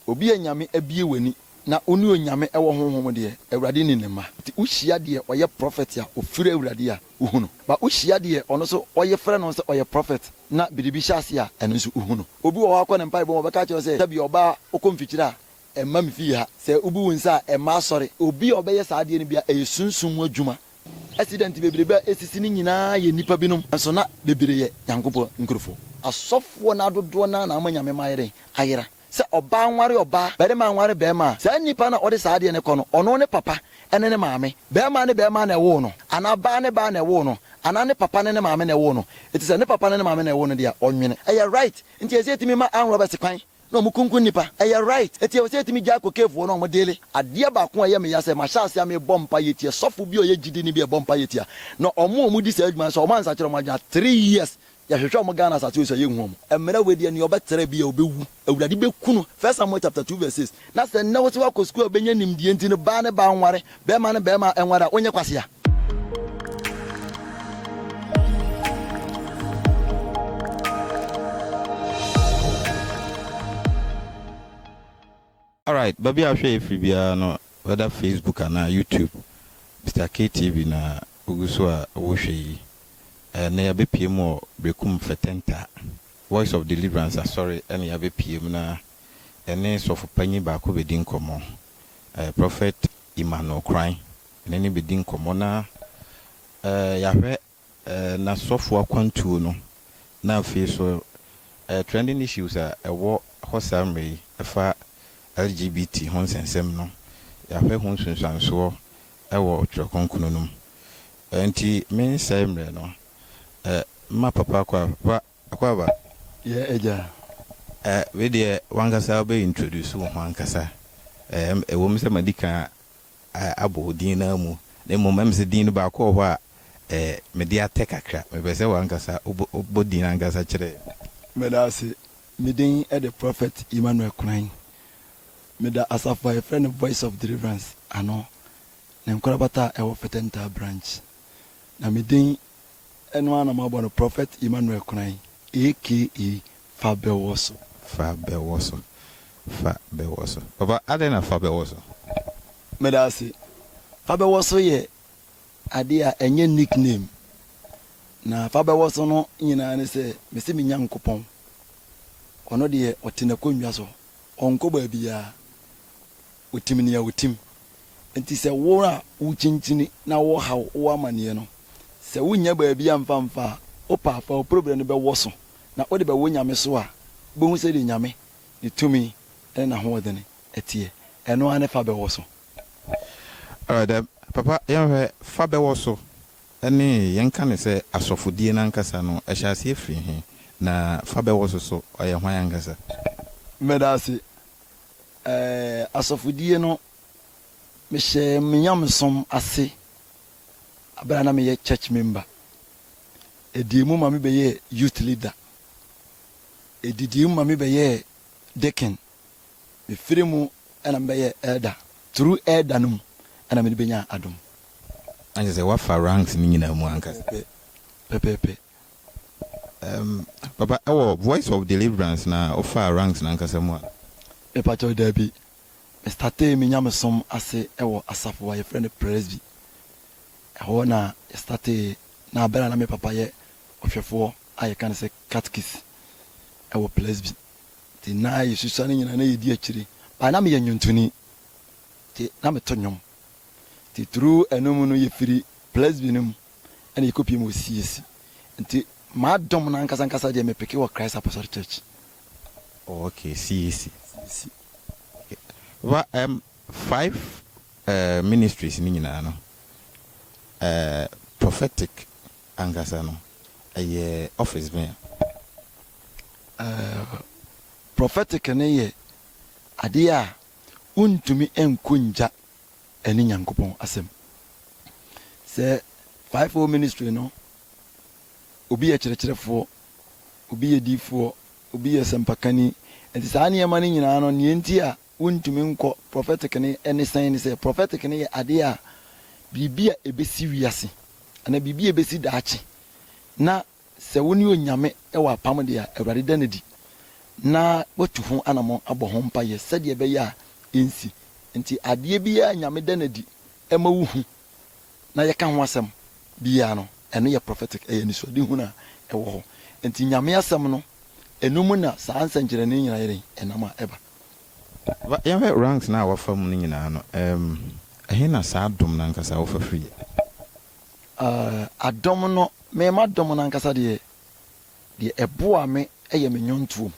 Obi a Nyame abue w'ani na wo ne Onyame wɔ honhom mu deɛ, Awurade nni ne mma. Nti wo hyia deɛ ɔyɛ prɔfɛt a ɔfiri Awurade a, wo hu no. Ba wo hyia deɛ ɔno nso ɔye frɛ no sɛ ɔyɛ prɔfɛt na biribi hyɛ aseɛ a, ɛno nso wo hu no. Obi wɔ hɔ a kɔ ne mpaebɔ mu, ɔbɛka akyerɛ wo sɛ, Dabi ɔbaa wo kɔ mfikyire a, mma me fie ha. Sɛ wo bu wo nsa a, mma asɔre. Obi a ɔbɛyɛ saa adeɛ no biara, ɛyɛ sunsum mu adwuma. Accident bebrebe a esisi no nyinaa yɛ nnipa binom nso na bebree yɛ Nyankopɔn nkurofo. Asɔfoɔ no ara dodoɔ no ara na ama Nyame ma ayɛ dɛn? Ayera. Sɛ ɔbaa nware ɔbaa, barima nware barima a, saa nnipa no a ɔde saa adeɛ no kɔ no, ɔno ne papa ne ne maame. Barima ne barima na ɛwoo no, anaa baa ne baa na ɛwoo no, anaa ne papa ne ne maame na ɛwoo no. Enti sɛ ne papa ne ne maame na ɛwoo no deɛ a, ɔnwene. Ɛyɛ right. Enti ɛsɛ yɛtumi ma arm robbers kwan na ɔmo kunkum nnipa. Ɛyɛ right. Eti ɛwɔ sɛ yɛtumi gyae kɔ cave hɔ na ɔmo deale. Adeɛ baako a ɛyɛ me ya sɛ mahyɛ aseɛ a mebɔ mpaeɛ tia sɔfo bi a ɔyɛ gyidini bi a ɛbɔ mpaeɛ tia no ɔmo a ɔmo di saa adwuma no sɛ ɔmo ansakyera ɔmo adwene a three years yɛhwehwɛ ɔmo Ghana asase wei so a yɛnhu ɔmo. Mmerɛ wei deɛ nea ɔbɛtra bi a ɔbɛwu. Awurade bɛku no. First Samuel chapter two verse six. Na sɛ nnɛ wo se woakɔ sukuu a wobɛnya nimdeɛ nti no baa ne baa nware, bɛɛma ne bɛɛma nware a wonyɛ kwasea. Alright baabi a wohwɛ yɛ firi biara no whether Facebook anaa YouTube Mister Kay TV na wogu so a wohwɛ yi. Ɛnnɛ yɛabɛpue mu wɔ Berekum Fɛtɛnta Voice of Deliverance Asɔre ɛna yɛabɛpue mu na yɛne Sɔfo Panyin baako bɛdi nkɔmmɔ Prophet Emmanuel Kran ne no bɛdi nkɔmmɔ na yɛahwɛ n'asɔfoɔ akwantuo no na afei nso trending issues a ɛwɔ hɔ saa mmerɛ yi ɛfa LGBT ho nsɛnsɛm no yɛahwɛ ho nsunsuansoɔ wɔ Twerɛ Kronkron no mu. Nti mensɛe mmerɛ no, mma Papa Akwaaba, Akwaaba. Yɛ Agya. Wei deɛ wankasa wobɛ introduce wo ho ankasa, ɛwom sɛ madi kan abɔ wo din no ara mu, na mmom ɛm sɛ din no baako wɔ hɔ a ɛɛ mede atɛ kakra. Mepɛ sɛ w'ankasa wobɔ wobɔ din no ankasa kyerɛ yɛn. Meda ase. Me din de Prophet Emmanuel Kwan. Meda asafo a yɛfrɛ no Voice of Deliverance ano, ne nkorabata a ɛwɔ Fɛtɛntaa Branch. Na me din Ɛno ara na moabɔ no Prophet Emmanuel Konan aka Fa Bɛwɔ So. Fa Bɛwɔ So, Fa Bɛwɔ So. Papa, adɛn na Fa Bɛwɔ So? Meda ase. Fa Bɛwɔ So yɛ adeɛ a ɛnyɛ nick name. Na Fa Bɛwɔ So no nyinaa ne sɛ mese me Nyankopɔn, ɔno deɛ ɔte n'akonnwa so, ɔnkɔ baabiara. Otim nea otim. Enti sɛ wo a wukyinkyin na wɔhaw wo amanneɛ no, sɛ wunnya baabi amfa amfa a, wopa fa wo problem no bɛwɔ so na wode bɛwɔ Nyame so a, wubehu sɛdeɛ Nyame, Ne tumi ne N'ahoɔdene teɛ. Ɛno ara ne fa bɛwɔ so. Alright then, Papa, yɛnhwɛ fa bɛwɔ so ne yɛnka no sɛ asɔfodie no ankasa no, ɛhyɛ aseɛ firi he? Na fa bɛwɔ so so, ɔyɛ hwan ankasa? Meda ase. Ɛɛ, asɔfodie no, mehyɛɛ me nyamesom ase berɛ a na meyɛ church member. Ɛdii mu ma mebɛyɛɛ youth leader. Ɛdidii mu ma mebɛyɛɛ deacon. Mefiri mu na mebɛyɛɛ elder. Through elder no mu na mede bɛnyaa adom. Na kyerɛ sɛ woafa ranks no nyinaa mu ankasa. Pɛpɛɛpɛ, pɛpɛɛpɛ. Erm papa ɛwɔ voice of deliverance na wofaa ranks no ankasa mu a? Mepakyɛw dabi. Me startee me nyamesom ase wɔ asafo a yɛfrɛ no Presby. Ɛhɔ na yɛ startee na bere a na me papa yɛ ɔhwɛfoɔ a yɛka no sɛ Catkist wɔ Presby nti na yɛsusua ne nyinaa na yɛdi akyire but na meyɛ nnwontoni nti na meto nnwom nti through ɛno mu no yɛfiri Presby no mu ɛna yɛkɔpie mu wɔ CAC. Nti m'adom no ankasa ankasa deɛ mepeke wɔ Christ Apostolic Church. Oh okay, CAC. CAC. Okay. Ba um, five uh, ministries ni nyinaa no, uh, prophetic ankasa no, ɛyɛ office bɛn? Uh, prophetic no yɛ adeɛ a wontumi nkɔ ngya ɛne Nyankopɔn asɛm. Sɛ fivefold ministry no, obi yɛ kyerɛkyerɛfoɔ, obi yɛ diifoɔ, obi yɛ sɛmpakani, nti saa nneɛma no nyinaa no nea nti a wontumi nkɔ prophetic no ɛne sɛn ne sɛ prophetic no yɛ adeɛ a biribi a ɛbɛsi wiase anaa biribi a ɛbɛsi daakye na Sɛ wo ne Onyame wɔ apam de a, Awurade da no adi na watu ho anamɔn abɔ ho mpaeɛ sɛdeɛ ɛbɛyɛ a ɛnsi. Enti adeɛ biara a Nyame da no adi ma wohu na yɛka ho asɛm biara no, ɛno yɛ prophetic, ɛyɛ anisoadehunu a ɛwɔ hɔ. Enti Nyame asɛm no, ɛno mu na saa nsɛnkyerɛnne nyinaa yɛ dɛn? Ɛnam a ɛba. Fa yɛnhwɛ ranks no a wafa mu no nyinaa no, ɛhe na saa dom no ankasa wofa firi? Eh, adom no, me m'adom no ankasa deɛ, deɛ ɛboa me yɛ me nnwontoɔ mu.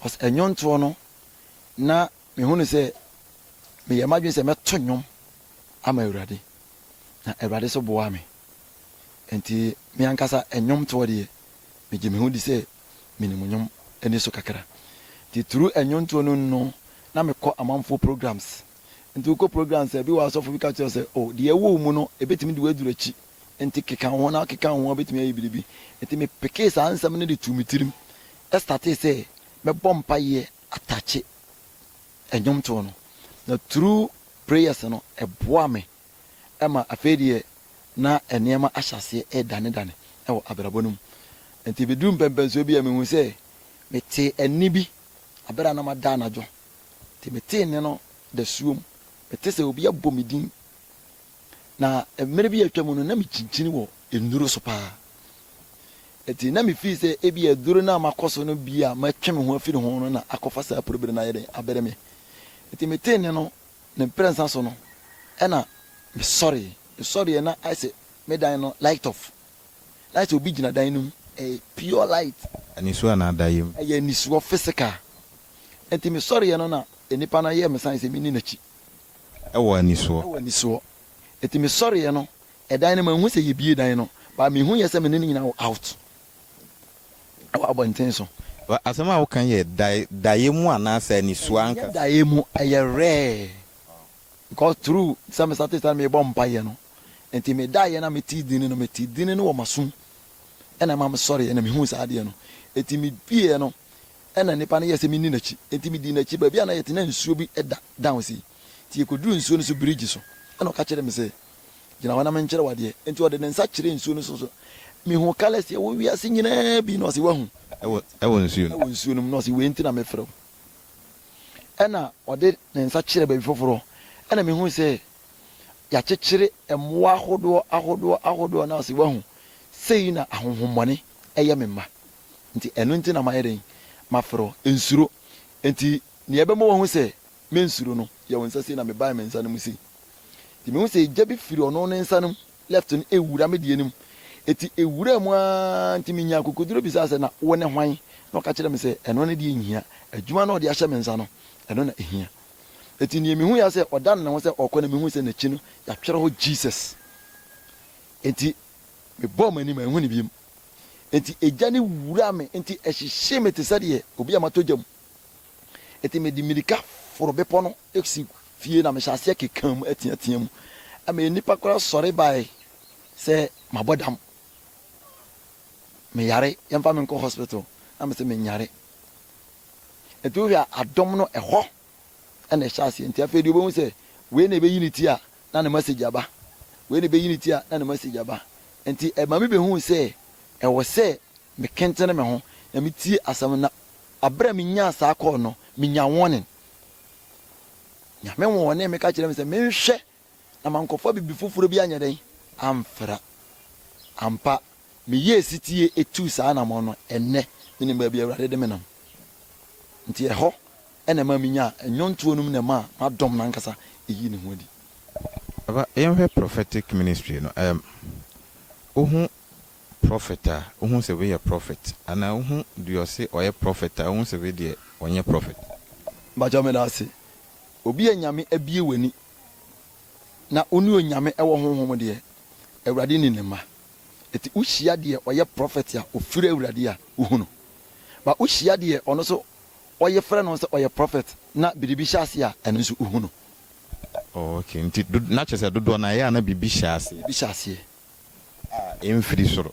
Cause nnwontoɔ no, na mehunu sɛ meyɛ m'adwene sɛ mɛto nnwom ama Awurade, na Awurade nso boaa me. Enti me ankasa nnwomtoɔ deɛ, megye me ho di sɛ menim nnwom ani so kakra. Nti through nnwontoɔ no mu no, na mekɔ amanfoɔ programs. Enti wokɔ program saa bi wɔ asɔfo bi ka kyerɛ wo sɛ, oh, deɛ ɛwɔ wo mu no, ɛbɛtumi de wo aduru akyi. Enti keka wo ho na keka wo ho a wobɛtumi ayɛ biribi. Enti mepekee saa nsɛm no de too me tirim startee sɛ mɛbɔ mpaeɛ atakye nnwomtoɔ no. Na through prayers no, ɛboaa me ma afei deɛ na nneɛma ahyɛ aseɛ redanedane wɔ abrabɔ no mu. Enti ɛbɛduruu mpɛmpɛnsoɔ bi a mehuu sɛ metee ɛnne bi berɛ a na mada anadwo. Nti metee nne no dasuom, mete sɛ obi abɔ me din, na mmerɛ bi a atwa mu no na mekyinkyini wɔ nnuro so paa. Nti na mefii sɛ ebia aduro no a makɔ so no bi a matwe me ho afiri ho no na akɔfa saa prebere no ayɛ dɛn abere me. Nti metee nne no, ne mprɛnsa so no ɛna mesɔree. Mesɔreeɛ na ayɛ sɛ me dan no light off. Light a obi gyina dan no mu, ɛyɛ pure light. Anisoɔ anaa dayɛm? Ɛyɛ anisoɔ, physical. Nti me sɔreɛ no na nipa no ayɛ me sign sɛ menni n'akyi. Ɛwɔ anisoɔ? Ɛwɔ anisoɔ. Nti me sɔreɛ no, ɛdan no manhu sɛ yɛbue dan no, but mehuiɛ sɛ me ne no nyinaa wɔ out wɔ abɔnten so. Asɛm a woka yɛ dayɛm anaasɛ anisoɔ ankasa? Ɛnyɛ dayɛm, ɛyɛ rare. Because through sɛ me startee saa no merebɔ mpaeɛ no, Enti medaeɛ na metee dini no, metee dini no wɔ m'asom, ɛna ɛma mesɔreeɛ na mehuu saa adeɛ no. Enti medieɛ no, ɛna nnipa no yɛɛ sɛ menni n'akyi, enti medii n'akyi. Baabi a na yɛte, na nsuo bi da down sei, enti yɛkɔduruu nsuo no so birigyi so, ɛna ɔka kyerɛɛ me sɛ, Gyina hɔ na menkyerɛ wo adeɛ. Enti ɔde ne nsa kyerɛɛ nsuo no so, so mehuu colours a ɛwɔ wiase nyinaa bi, na ɔse, Woahu? Wɔ, wɔ nsuo no. Wɔ nsuo no mu, na ɔse, Wei nti na mefrɛ wo. Ɛna ɔde ne nsa kyerɛɛ baabi foforɔ, ɛna mehuu sɛ Yɛakyekyere mmoa ahodoɔ ahodoɔ ahodoɔ no ase, wahu, sei na ahonhommɔne yɛ me mma. Nti ɛno nti na mayɛ dɛn? Mafrɛ wo, nsuro. Nti deɛ ɛbɛma wahu sɛ mensuro no, yɛ wo nsa sei na mebae me nsa no mu sei. Nti mehu sɛ egya bi firi ɔno ne nsa no mu, left no, ɛwura me deɛ no mu. Nti ɛwuraa mu ara nti menyaa akokoduro bisaa sɛ na wone hwan? Na ɔka kyerɛɛ me sɛ ɛno no deɛ nhia, adwuma no a ɔde ahyɛ me nsa no, ɛno na ɛhia. Enti nea mihui ara sɛ ɔdan ne ho sɛ ɔrekɔ na mihui sɛ n'akyi no yɛatwerɛ hɔ Jesus. Enti mebɔɔ m'ani ma anhu no biom. Enti egya no wuraa me enti ɛhyehyee me te sɛ deɛ obi a matɔ gya mu. Enti mede mmirika foro bepɔ no si fie na mehyɛ aseɛ keka mu teatea mu. Ɛma nnipa koraa sɔre bae sɛ mabɔ dam. Meyare, yɛmfa me nkɔ hospital. Na mese menyare. Nti wohwɛ a adom no ɛhɔ na ɛhyɛ aseɛ. Nti afei deɛ wobɛhu sɛ wei na ɛbɛyi ne ti a na ne message aba. Wei na ɛbɛyi ne ti a na ne message aba. Nti ɛma me bɛhuu sɛ ɛwɔ sɛ mekentene me ho na metie asɛm no na aberɛ a menyaa saa call no, menya warning. Nyame wɔɔnee me ka kyerɛɛ me sɛ menhwɛ na mankɔfa biribi foforɔ bi anyɛ dɛn amfra. Ampa, meyɛɛ setie tuu saa anammɔn no. Ɛnnɛ, menim baabi a Awurade de me nam. Nti ɛhɔ na ɛmaa menyaa nnwontoɔ no mu na ɛmaa m'adɔm no ankasa yii ne ho adi. Aba, yɛnhwɛ prophetic ministry no. Ɛɛm, wohu prophet a, wohu sɛ wei yɛ prophet? Anaa wohu deɛ ɔse ɔyɛ prophet a, wohu sɛ wei deɛ ɔnyɛ prophet? Mpakyɛw, meda ase. Obi a Nyame abue w'ani Na wo ne Onyame wɔ honhom deɛ, Awurade nim ne mma. Enti wo hyia deɛ ɔyɛ prɔfɛt a ɔfiri Awurade a, wo hu no. But wo hyia deɛ ɔno nso ɔye frɛ no sɛ ɔyɛ prɔfɛt na biribi hyɛ aseɛ a, ɛno nso wo hu no. Oh ok, nti na kyerɛ sɛ dodoɔ no ara ɛyɛ a na biribi hyɛ aseɛ. Biribi hyɛ aseɛ. A ɛmfiri soro.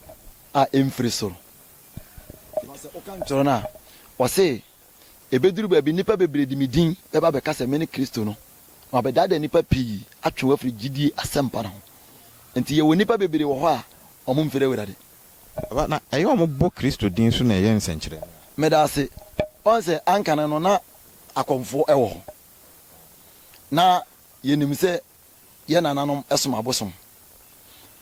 A ɛmfiri soro. Because sɛ wo ka ntwerɛ no a, ɔse Ebeduru baabi nnipa bebree de me din bɛba abɛka sɛ mene Kristo no, na wɔabɛdaadaa nnipa pii atwe wɔn afiri gyidie asɛmpa no ho. Enti yɛwɔ nnipa bebree wɔ hɔ a wɔmfiri Awurade. Aba, na ɛyɛ wɔbɔ Kristo din so na ɛyɛ nsɛnkyerɛnne a. Meda ase. Woahu sɛ anka no no na akɔmfoɔ wɔ hɔ. Na yɛnim sɛ yɛn nananom som abosom.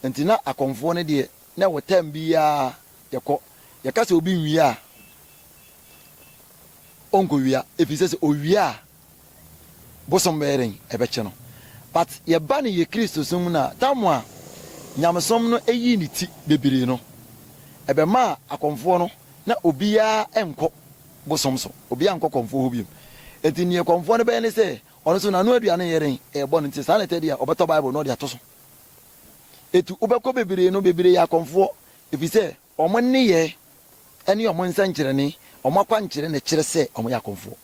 Enti na akɔmfoɔ no deɛ, na ɛwɔ term biara yɛkɔ. Yɛka sɛ obi nwia a, ɔnkɔwia, ɛfiri sɛ sɛ ɔwia a, bosom bɛyɛ dɛn? Ɛbɛkye no. But yɛba no yɛ Kristosom mu no a, tam a nyamesom no yii ne ti bebree no, ɛbɛmaa akɔmfoɔ no, na obiara nkɔ bosom so, obiara nkɔ kɔmfoɔ hɔ bio. Enti deɛ kɔmfoɔ no bɛyɛ ne sɛ, Ɔno nso, n'ano aduane yɛ den, ɛyɛ bɔne nti, saa na ɛtɛ deɛ a, ɔbɛtɔ Bible na ɔde ato so. Etu wobɛkɔ bebree no, bebree yɛ akɔmfoɔ, ɛfiri sɛ wɔn nneyɛɛ ne wɔn nsɛnkyerɛnne, wɔn akwankyerɛ na ɛkyerɛ sɛ wɔyɛ akɔmfoɔ.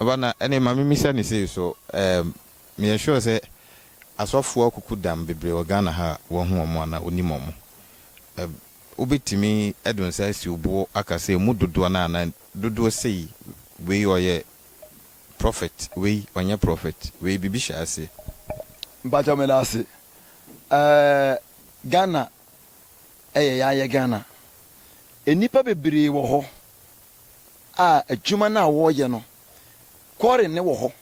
Ɔba no, ɛnneɛ ma memmisa no sei, So ɛɛm meyɛ sure sɛ asɔfoɔ akuku dam bebree wɔ Ghana ha a woahu wɔn anaa wonim wɔn? Ɛɛm. wobɛtumi de wo nsa asi wo bo aka sɛ ɛmu dodoɔ no anaa dodoɔ sei wei ɔyɛ prophet wei ɔnyɛ prophet wei biribi hyɛ aseɛ. Mpakyɛw medase ɛɛ Ghana ɛyɛ yayɛ Ghana nnipa bebree wɔ hɔ a adwuma no a wɔyɛ no quarry no wɔ hɔ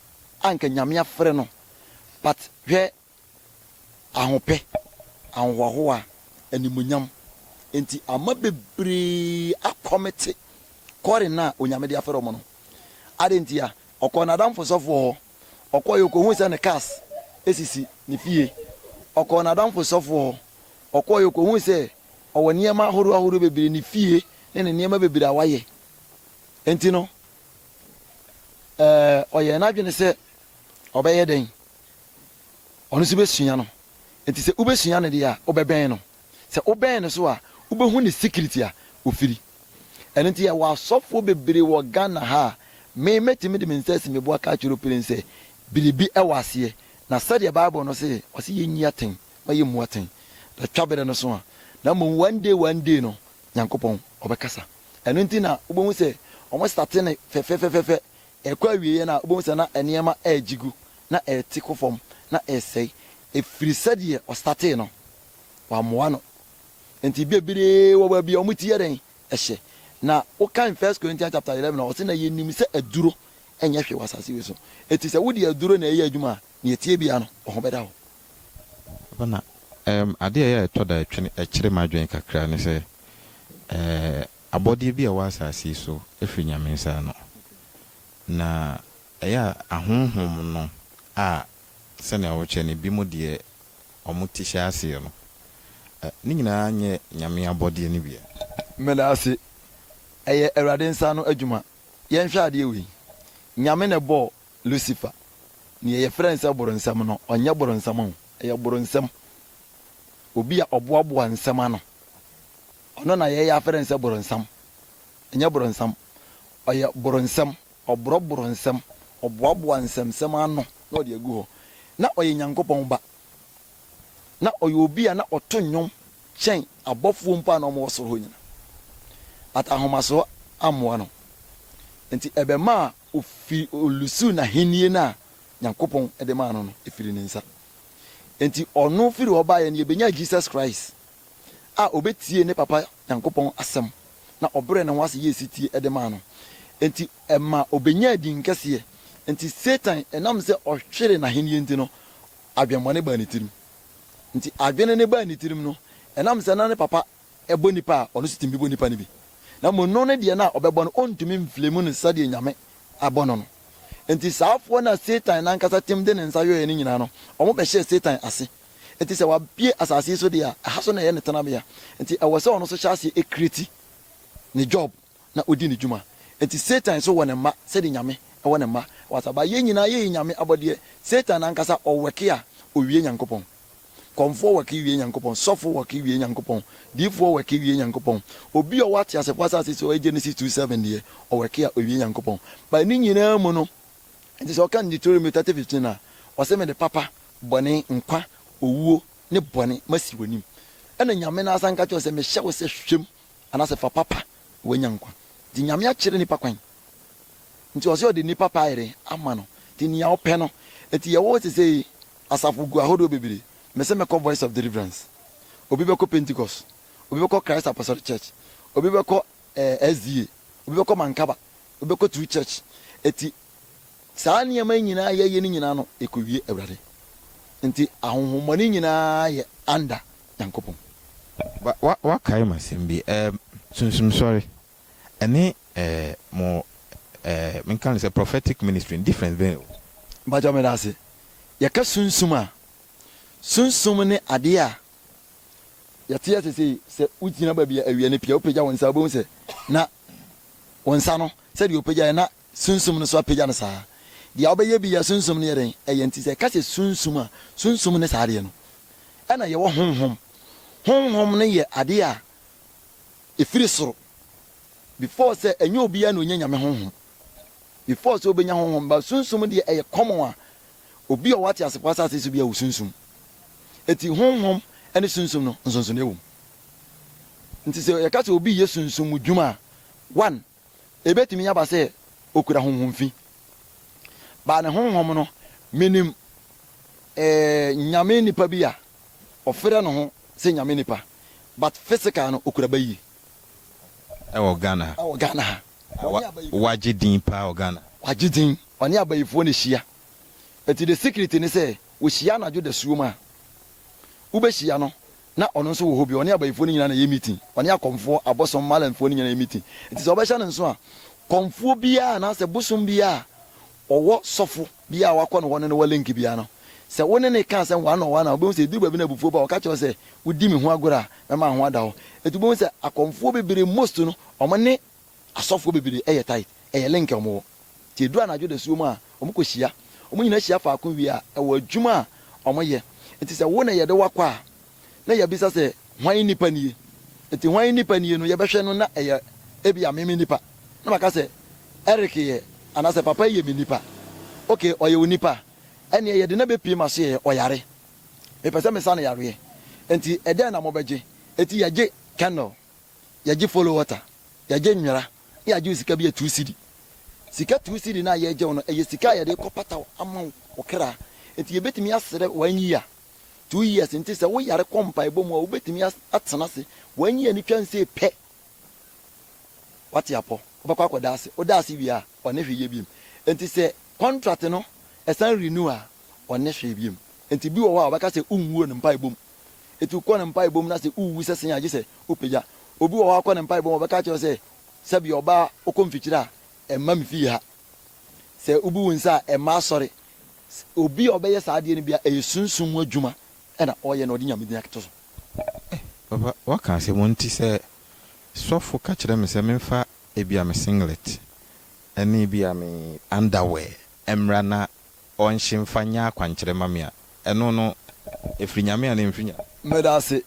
a nka Nyame afrɛ no but hwɛ Ahopɛ, ahohoahoa, animuonyam, nti ama bebree akɔmete Corin a Onyame de afɛre wɔn no. Adɛn ntia? Ɔkɔɔ n'adamfo sɔfoɔ hɔ. Ɔkɔeɛ ɔkɔhuu sɛ ne cars sisi ne fie. Ɔkɔɔ n'adamfo sɔfoɔ hɔ. Ɔkɔeɛ ɔkɔhuu sɛ ɔwɔ nneɛma ahoroɔ ahoroɔ bebree, ne fie ne ne nneɛma bebree a wayɛ. Nti no, ɛɛ ɔyɛɛ n'adwene sɛ ɔbɛyɛ dɛn? ɔno nso bɛsua no. Enti sɛ wobɛsua no deɛ a, wobɛbɛn no. Sɛ wobɛn no so a, wobɛhu ne secret a ɔfiri. Ɛno nti yɛwɔ asɔfoɔ bebree wɔ Ghana ha a, me mɛtumi de me nsa asi me bo aka akyerɛ wo pirim sɛ, biribi wɔ aseɛ. Na sɛdeɛ Bible no se, ɔse yɛnyi atɛn ma yɛmmu atɛn. Na twa berɛ no so a, na mmom one day one day no, Nyankopɔn ɔbɛkasa. Ɛno nti na wobɛhu sɛ wɔstate no fɛfɛfɛfɛ, Ɛkɔ awieeɛ no a, wobɛhu sɛ na nneɛma regye gu, na ɛrete kɔ fam, na ɛresɛe, ɛfiri sɛdeɛ ɔstatee no, wammoa no. Enti bebree wɔ baabi a wɔte yɛ dɛn? Ɛhyɛ. Na wokan First Corinthians chapter eleven a, ɔse, Na yɛnim sɛ aduro nyɛ hwee wɔ asase wei so. Enti sɛ wode aduro na ɛreyɛ adwuma a, deɛ ɛteɛ biara no, wo ho bɛda hɔ. Papa, na ɛɛm, adeɛ a ɛyɛ a ɛtɔ da ɛtwene ɛkyere m'adwene kakra ne sɛ, ɛɛ, Abɔdeɛ bi a ɛwɔ asase yi so firi Nyame nsa ano, na ɛyɛ a ahonhom no a sɛnea wokyɛ no binom deɛ wɔn ti hyɛ aseɛ no, ne nyinaa nyɛ Nyame abɔdeɛ no bi ɛ. Meda ase. Ɛyɛ Awurade nsa ano adwuma. Yɛnhwɛ adeɛ wei, Nyame na ɛbɔɔ Lucifer, deɛ yɛfrɛ no sɛ boronsam no, ɔnyɛ boronsam o, ɛyɛ boronsam, obi a ɔboaboa nsɛm ano. Ɔno na yɛyɛ afɛrɛ no sɛ boronsam. Ɛnyɛ boronsam. Ɔyɛ boronsɛm. Ɔborɔ boronsɛm. Ɔboaboa nsɛmsɛm ano na ɔde agu hɔ. Na ɔyɛ Nyankopɔn Ba. Na ɔyɛ obi a na ɔto nnwom kyɛn abɔfoɔ mpo a na wɔwɔ soro hɔ nyina. But ahomasoɔ ammoa no. Nti ɛbɛmaa ofi, olusuu n'ahennie no a Nyankopɔn de maa no no firi ne nsa. Nti ɔno firi hɔ baeɛ no yɛbɛnyaa Jesus Christ. a obetiee ne papa Nyankopɔn asɛm na ɔbrɛɛ ne ho ase yɛɛ setie de maa no nti, ɛma obenyaa din kɛseɛ. Enti Satan, ɛnam sɛ ɔhweree n'ahennie nti no, adwemmɔne baa ne tirim. Enti adwene no baa ne tirim no, ɛnam sɛ na ne papa bɔ nnipa a, ɔno nso tumi bɔ nnipa no bi. Na mmom no ne deɛ no a ɔbɛbɔ no, ɔntumi mflame no sɛdeɛ Nyame abɔ no no. Enti saafoɔ no a Satan no ankasa tem de ne nsa yɔeɛ no nyinaa no, wɔbɛhyɛɛ Satan ase. Enti sɛ wabue asase yi so deɛ a, ɛha so na ɛyɛ ne tenabea. Enti ɛwɔ sɛ ɔno nso hyɛ aseɛ kreti ne job na ɔdi ne dwuma. Enti Satan nso wɔ ne mma sɛdeɛ Nyame wɔ ne mma wɔ asase. But yɛn nyinaa yɛyɛ Nyame abɔdeɛ. Satan ankasa ɔwɛke a, ɔwie Nyankopɔn. Kɔmfoɔ wɛke wie Nyankopɔn. Sɔfo wɛke wie Nyankopɔn. Diifoɔ wɛke wie Nyankopɔn. Obi a ɔwɔ ateasefoɔ asase so a ɔyɛ Genesis two seven deɛ, ɔwɛke a, ɔwie Nyankopɔn. But ne nyinaa mu no, Enti sɛ ɔka no Deuteronomy thirty fifteen a, ɔse, Mede papa, bɔne, nkwa, owuo, ne bɔne masi w'anim. Ɛna Nyame no ara san ka kyerɛ wo sɛ, Mehyɛ wo sɛ hwɛ mu, anaasɛ fa papa na w'anya nkwa. Nti Nyame akyere nnipa kwan. Nti ɔse ɔde nnipa paa yere ama no. Nti nea ɔpɛ no. Nti yɛwɔ hɔ sesei asafo gu ahodoɔ bebree. Mese mɛkɔ Voice of Deliverance. Obi bɛkɔ Pentecost. Obi bɛkɔ Christ Apostolic Church. Obi bɛkɔ eh, SDA. Obi bɛkɔ Mankaba. Wobɛkɔturu church. Enti saa nneɛma yi nyinaa a yɛyɛ no nyinaa no, ɛkɔwie Awurade. Enti ahonhommɔne nyinaa yɛ under Nyankopɔn. Wa, wa, wakae m'asɛm bi. Ɛɛ, sunsumsɔre ɛne ɛɛ mo ɛɛ menka no sɛ prophetic ministry no, difference bɛn na ɛwɔ mu? Mpakyɛw medase. Yɛka sunsum a, sunsum ne adeɛ a yɛteɛ sesei, sɛ wogyina baabi a awia no pia, wopagya wo nsa a, wobɛhu sɛ na Wo nsa no, sɛdeɛ ɔpagyaeɛ na Sunsum no nso apagya no saa. Deɛ wobɛyɛ bi yɛ Sunsum no yɛ dɛn? Ɛyɛ nti sɛ yɛka sɛ Sunsum a, Sunsum ne saa adeɛ no. Ɛna yɛwɔ Honhom. Honhom no yɛ adeɛ a ɛfiri soro. Before sɛ, ɛnyɛ obiara na ɔnya Nyame Honhom. Before sɛ wobɛnya Honhom. But Sunsum deɛ ɛyɛ common a obi a ɔwɔ ateasefoɔ asase so biara wɔ Sunsum. Enti Honhom ne Sunsum no, nsonsonoeɛ wɔ mu. Enti sɛ yɛka sɛ obi reyɛ sunsum mu dwuma a, one, ebetumi aba sɛ okura honhom fi. Baa ne honhom no, minim eh, Nyame nipa bi a ɔfrɛ ne ho sɛ Nyame nipa, but physical no okura ba yie. Ɛwɔ Ghana ha. Ɛwɔ Ghana ha. Ɔne abayifoɔ. Wagye din paa wɔ Ghana. Wagye din. Ɔne abayifoɔ na ehyia. Enti the secret ne sɛ, wɔhyia anadwo dasuom a, wobɛhyia no Na ɔno nso wɔ hɔ bi, ɔne abayifoɔ no nyinaa na ɛyɛ meeting. Ɔne akɔmfoɔ, abosom, Malanfoɔ no nyinaa yɛ meeting. Nti sɛ wobɛhyɛ no nso a, kɔmfoɔ biara anaasɛ bosom biara a ɔwɔ sɔfo biara a wakɔ ne hɔ ne no wɔ link biara no, sɛ wo ne no reka asɛm one on one a, wobɛhu sɛ ɛduru baabi no a abufuo ba a, ɔka kyerɛ wo sɛ, wodi me ho agorɔ a, mɛma wo ho ada hɔ. Nti wobɛhu sɛ akɔmfoɔ bebree, most no, wɔne. Asɔfoɔ bebree yɛ tithe, ɛyɛ link a wɔwɔ. Nti ɛduru anadwo dasuo mu a, wɔkɔhyia. Wɔn nyinaa hyia faako wie a, ɛwɔ adwuma a wɔyɛ. Nti sɛ wo na yɛde wo akɔ a, na yɛabisa sɛ, hwan nipa nie? Nti hwan nipa nie no, yɛbɛhwɛ no na ɛyɛ ebia me me nipa. Na maka sɛ, Eric yɛ, anaasɛ papa yi yɛ me nipa. Ok, ɔyɛ wo nipa a, ɛnneɛ yɛde no abɛpue ma soɛ, ɔyare. Mepɛ sɛ mesa no yareɛ. Nti ɛdɛn na mobɛgye? Nti yɛgye candle. yɛgye follow water, yɛgye nwera na yɛagye wo sika bi yɛ two cedi. Sika two cedi no a yɛregye wo no, ɛyɛ sika a yɛde rekɔpata wo ama wo wo kra. Enti yɛbɛtumi asrɛ one year, two years nti sɛ woyare kɔ mpaebɔ mu a wobɛtumi atena ase one year no twa nsee pɛ woate apɔ wobɛkɔ akɔda ase, woda ase wie a ɔne hwee yɛ biom. Enti sɛ contract no ɛsan renew a ɔne hwee biom. Enti bi wɔ hɔ a ɔbɛka sɛ wonwuo no mpaebɔ mu. Etu kɔ ne mpaebɔ mu na sɛ wuwu sɛ sen a gye sɛ wopagya. Obi wɔ hɔ a wokɔ ne mpaebɔ mu a ɔbɛka akyerɛ wo sɛ, Sɛbea ɔbaa a ɔkɔ mfikyiri a ɛmma me fie ha. Sɛ wubu wo nsa a ɛmma asɔre. Obi a ɔbɛyɛ saa adeɛ no biara ɛyɛ sunsum mu adwuma na ɔyɛ na ɔde Nyame din atoto so. Eh papa waka asɛm o nti sɛ sɔfo ka kyerɛ me sɛ memfa ebia me singlet ne ebia me underwear mmra na ɔnhye mfa nyɛ akwankyerɛ mma me a, ɛno no, ɛfiri Nyame anaa ɛmfiri Nyame? Meda ase.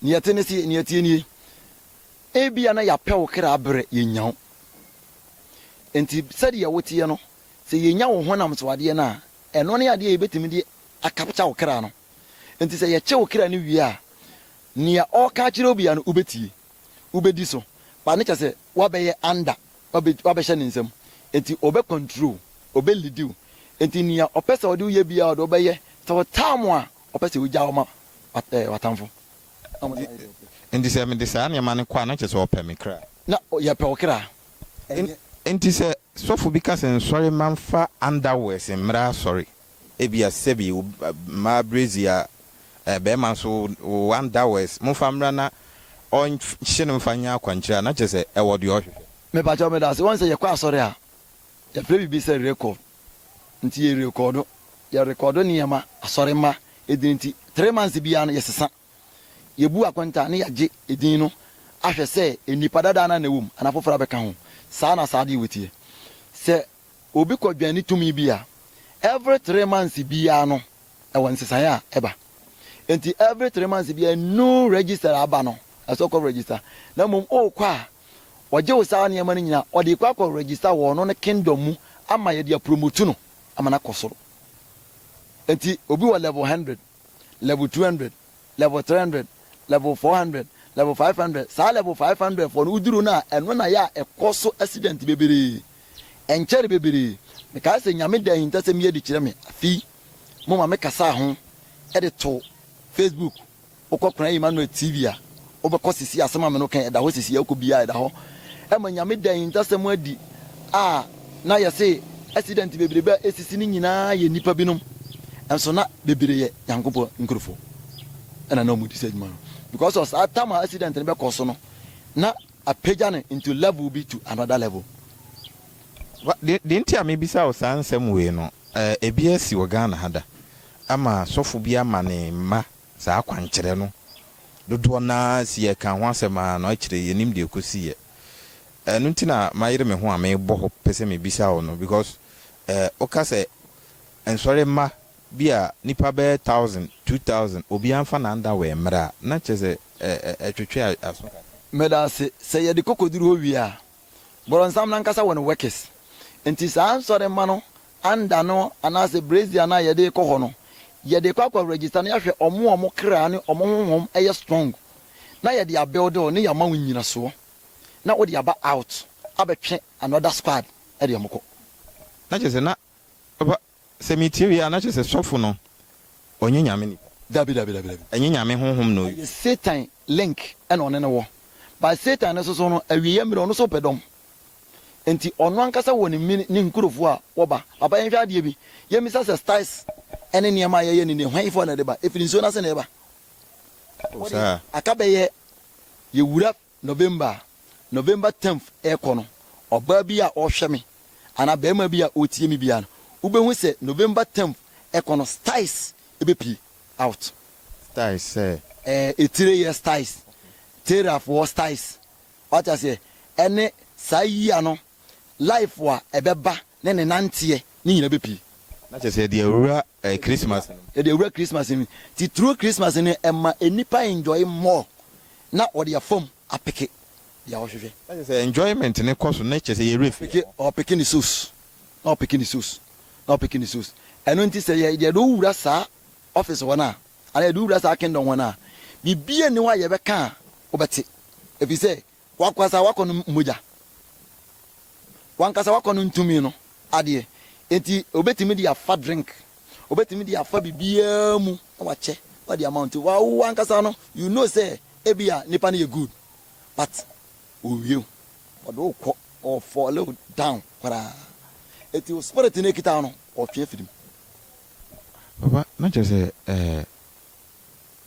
Nea ɛte ne se, nea ɛteɛ nie, ebia na yɛapɛ wo kra berɛ yɛnnya wo. Enti sɛdeɛ woteɛ no, sɛ yɛnya wo honam so adeɛ no a, ɛno ne adeɛ a yɛbɛtumi de akapkya wo kra no. Enti sɛ yɛkye wo kra no wie a, nea ɔreka akyerɛ wo biara no, wobɛtie. wobɛdi so paa no kyerɛ sɛ woabɛyɛ under, woabɛhyɛ ne nsam nti ɔbɛ control, ɔbɛ lead wo nti nea ɔpɛ sɛ ɔde wo yɛ biara ɔde wo bɛyɛ, sɛ ɔtaa mo a ɔpɛ sɛ ɔgya wo ma w'atamfo. Nti sɛ mede saa nneɛma no kɔ a na kyerɛ sɛ ɔpɛ me kra. Na yɛpɛ wo kra. Nti sɛ sɔfo bi ka sɛ nsɔre ma mfa underwears mmra asɔre Ebia sɛbi wo mma bredzi a, eh, bɛrima nso wo one dowers, momfa mmra na ɔnhye no mfa nyɛ akwankyerɛ a, na kyerɛ sɛ ɛwɔ deɛ ɔhwehwɛ. Mepakyɛw medase wɔn sɛ yɛkɔ asɔre a yɛfrɛ biribi sɛ record nti yɛ rekɔɔdo yɛ rekɔɔdo nneɛma asɔre mma edin nti three months biara no yɛsesa yɛbu akontaa ne yɛagye edin no ahwɛ sɛ nnipa dadaa no a na ɛwɔ mu anaa foforɔ abɛka ho saa na saa adeɛ wɔ teɛ sɛ obi kɔ dwani tumi bi a, every three months biara no ɛwɔ nsesaeɛ a ɛba. Nti every three months biara new register aba no ɛsɛ ɔkɔ register. Na mmom ɔɔkɔ a ɔgye wo saa nneɛma no nyinaa ɔde kɔ akɔ register wɔ ɔno ne kingdom mu ama yɛde apromotu no ama no akɔ soro. Nti obi wɔ level hundred. level two hundred level three hundred level four hundred level five hundred saa level five hundred fɔ no woduru no a ɛno na yɛ a ɛkɔ so accident bebree ɛnkyɛre bebree mekae sɛ nyame da ahintasɛm yi adi kyerɛ me afi mo ma me kasaa ho ɛde to facebook wokɔ kora Emmanuel TV a Wobɛkɔ sisi asɛm a me no kɛn ɛda hɔ sisi ɛkɔ biaa ɛda hɔ ɛma nyame da ahintasɛm adi a na yɛse accident bebrebe a ɛsisi no nyinaa yɛ nnipa binom nso na bebree yɛ nyankopɔn nkurofo ɛna na ɔmo di saa adwuma no because of saa tam a accident no bɛkɔ so no na apagya no into level bi to another level. Wa de de nti a me bisa wo saa nsɛm wei no ɛɛ ebi asi wɔ Ghana ha da ama sɔfo bi ama ne mma Saa akwankyerɛ no, dodoɔ no ara si yɛ kaa ho asɛm ara no, akyire yɛnim deɛ ɛkɔsiiɛ. Ɛno nti na mayere me ho a merebɔ hɔ pɛ sɛ mebisa wo no because woka sɛ nsɔre mma bi a nnipa bɛyɛ thousand, two thousand, obiara mfa no underwear mmra a, na kyerɛ sɛ ɛtwetwe aso kakra. Meda ase. Sɛ yɛde kɔkɔduru hɔ wie a, Borɔnsam no ankasa wɔ ne workers. Enti saa nsɔremma no anda no anaasɛ brazier no a yɛde rekɔ hɔ no, yɛde rekɔ akɔ register na yɛahwɛ wɔn a wɔn kra ne wɔn honhom yɛ strong na yɛde abuild wɔn na yɛama wɔn nnyinasoɔ na wode aba out abɛtwe another squad de wɔn kɔ. Na kyerɛ sɛ na Sɛ metie wie a na kyerɛ sɛ sɔfo no ɔnyɛ Nyame nipa. Dabi dabi dabi dabi. Ɛnyɛ Nyame honhom na ɔyɛ. Ɛyɛ Satan link na ɔne no wɔ. But Satan no soso no awieɛ mmerɛ ɔno nso pɛ dɔm. Nti ɔno ankasa wɔ ne mini ne nkurofoɔ a wɔba. Papa yɛnhwɛ adeɛ bi. Yɛmmisa sɛ styles ɛne nneɛma a yɛyɛ no nie hwan foɔ na ɛde ba? Ɛfiri nsuo no ase na ɛba. Ɔde aka bɛyɛ yɛwura. November a November tenth rekɔ no, ɔbaa bi a ɔrehwɛ me anaa barima bi a ɔretie me biara no, wobɛhu sɛ November tenth rekɔ no, styes bɛpue out. Styes sɛ? Ɛɛ, etireyɛ styes, terafoɔ styes, wate aseɛ, ɛne saa yea no. life a ɛbɛba ne ne nanteɛ ne nyina bɛ pii. Na kyerɛ sɛ yɛde awura Christmas no mu. Yɛde awura Christmas no mu nti through Christmas no ɛma nnipa enjoy more na wɔde afam apeke deɛ wɔhwehwɛ. Na kyerɛ sɛ enjoyment no kɔ so na kyerɛ sɛ yɛwerɛ fi yɛn ho. Ɔpeke ne sos na ɔpeke ne sos na ɔpeke ne sos ɛno nti sɛ yɛ yɛde wo wura saa office hɔ no a anaa yɛde wo wura saa kingdom hɔ no a biribiara nni hɔ a yɛbɛka a wobɛte ɛfiri sɛ W'ankasa w'akɔnnɔ mu mogya. W'ankasa w'akɔnnɔ ntumi no adeɛ. Enti obetumi de afa drink, obetumi de afa biribiara mu na wakyɛ na ɔde ama wo. Nti w'awo w'ankasa no you know sɛ ebia nipa no yɛ good but owie wo. Ɔde wo kɔ, ɔ fall wo down koraa. Enti wo spirit no ekita wo no ɔtwe afiri mu. Papa na kyerɛ sɛ ɛɛ